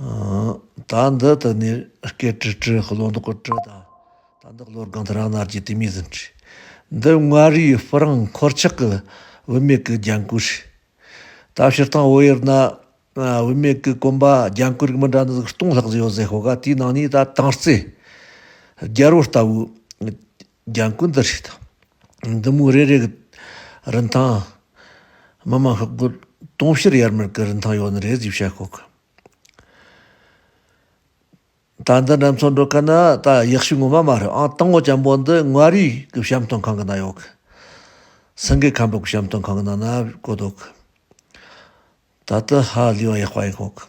དང། བདག་འདི་ལྟ་ནི་སྐད་དཀྲི་དཀྲི་བློ་འདི་ཀོ་དཀྲི་དང། བདག་འདི་བློ་སྒང་དུ་རང་སྣར་གྱི་དུས་མིག་ཟིན་དཀྲི། འདི་མངའ་རིས་སྤུ་རངས་འཁོར་ཆགས་ཀྱི་དབུ་མེད་ཀྱི་རྒྱན་སྐུ་ཞིག། ད་ཕྱིར་བཏང་དབུ་གཡེར་ན་དབུ་མེད་ཀྱི་སྐོམ་པ་རྒྱན་སྐུ་རིགས་མི་འདྲ་ནི་གཏོང་ལྷག་བཟོས་ཡོད་ཟེར་ཤོག་ག་དེའི་ནང་ནས་ད་དྭངས་རྩེ་རྒྱལ་པོ་ལྟ་བུའི། ལྗང་ཁུ་འདི་རིགས་དང། འདི་མུའུ་རེ་རེ་གི་རིན་ཐང། མི་དམངས་ཤོག་སྒོར་དུང་ཕྱུར་ཡར་མར་གི་རིན་ཐང་ཡོད་ནི་རེད་ཅེས་བཤད་ཁོ་གི། ད་འདི་འདྲ་མཚོན་འགྲོ་གི་ནི་ད་ཡག་ཤོས་ངོ་མ་མ་རེད་ཨང་སྟག་མོ་ལྕམ་པོ་འདི་མངའ་རིས་ཀྱི་བཤམས་སྟོན་ཁང་གི་ནང་ཡོད་གི། སེང་གེ་ཁམས་པོ་གི་བཤམས་སྟོན་ཁང་གི་ནང་ན་བཀོད་འདུག་གི། ད་ལྟ་ཧ་ལས་པ་ཡག་པ་ཡིན་ཁོ་གི།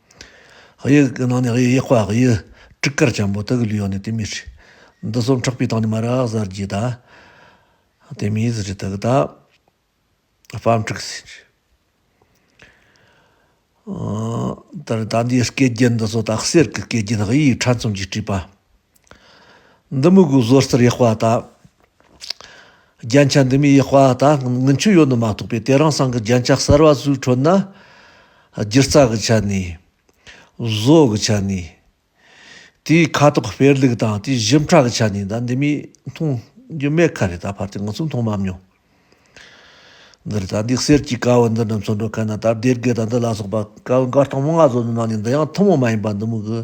དབྱིག་གི་ནང་ནས་དབྱིག་པ་དབྱིག། སྤྲི་དཀར་ཆེན་པོ་དུག་གི་ལུས་ཡོངས་ནས་དེ་མི་ཤི། འདི་གསུམ་ཕྲག་པའི་སྟེང་ནས་མ་རག་གཟར་གྱིས་བདའ། དེ་མིའི་གཟི་བརྗིད་དུག་བདག་བམ་ཕྲུག་སྲིན་གྱིས། ད་ལྟ་འདིའི་སྐད་བརྒྱུད་འདི་ཚོ་དག་གསེར་གྱི་སྐད་བརྒྱུད་དབྱིག་ཕྲ་ཚོམ་གྱིས་བྲིས་པ། འདི་མི་དགོས་བཟོ་རྩལ་ཡག་པ་དང། རྒྱན་ཆ་འདི་མི་ཡག་པ་དང་དངུལ་མཆོད་ཡོད་ནི་མ་གཏོགས་པའི་དེ་རང་སང་གི་རྒྱན་ཆ་གསར་བ་ཟུག་འཕྲོད་ན། སྒྱུ་རྩལ་གྱི་ཆ་ནས། བཟོ་གི་ཆ་ནས། དེའི་ཁ་དོག་སྤེལ་ལུགས་དང་དེའི་བཞིན་ཕྲ་གི་ཆ་ནས་ད་འདི་མིའི་མཐོང་རྒྱུ་མེད་ཁ་རེད་ད་བར་དེ་ང་ཚོས་མཐོང་མ་མྱོང། འདི་རེད་ད་འདི་གསེར་གྱི་དཀར་བོ་འདི་རྣམས་ཚོ་འགྲོ་ག་ན་ད་སྡེ་དགེ་དང་འདི་ལ་སོགས་པ་དཀར་བོ་མགར་སྟོང་མོ་ལྔ་བཟོ་ནི་ནང་ནས་འདི་ཡང་ཐུན་མོང་མ་ཡིན་པ་འདི་མི་དགོས།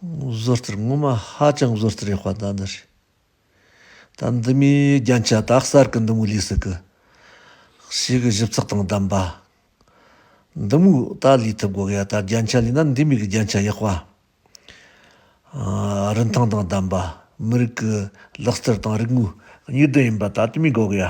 བཟོ་རྩལ་ངོ་མ་ཧ་ཅང་བཟོ་རྩལ་ཡག་པ་ཟླ་འདི་རེད། ཟླ་འདི་མིའི་རྒྱན་ཆ་དག་གསར་གི་འདི་མོའི་ལུས་སུ་གི། ཞིག་གི་ཞིབ་ཚགས་དང་ལྡན་པ། འདི་མོའི་ད་ལུས་ཐུབ་དགོས་ཡ་ད་རྒྱན་ཆ་ལུས་ན་འདི་མིའི་གི་རྒྱན་ཆ་ཡག་པ། རིན་ཐང་དང་ལྡན་པ་མི་རིགས་གི་ལག་རྩལ་དང་རིག་དངོས་གཉིས་ལྡན་ཡིན་པ་ད་དུས་མིའི་དགོས་གི་ཡ།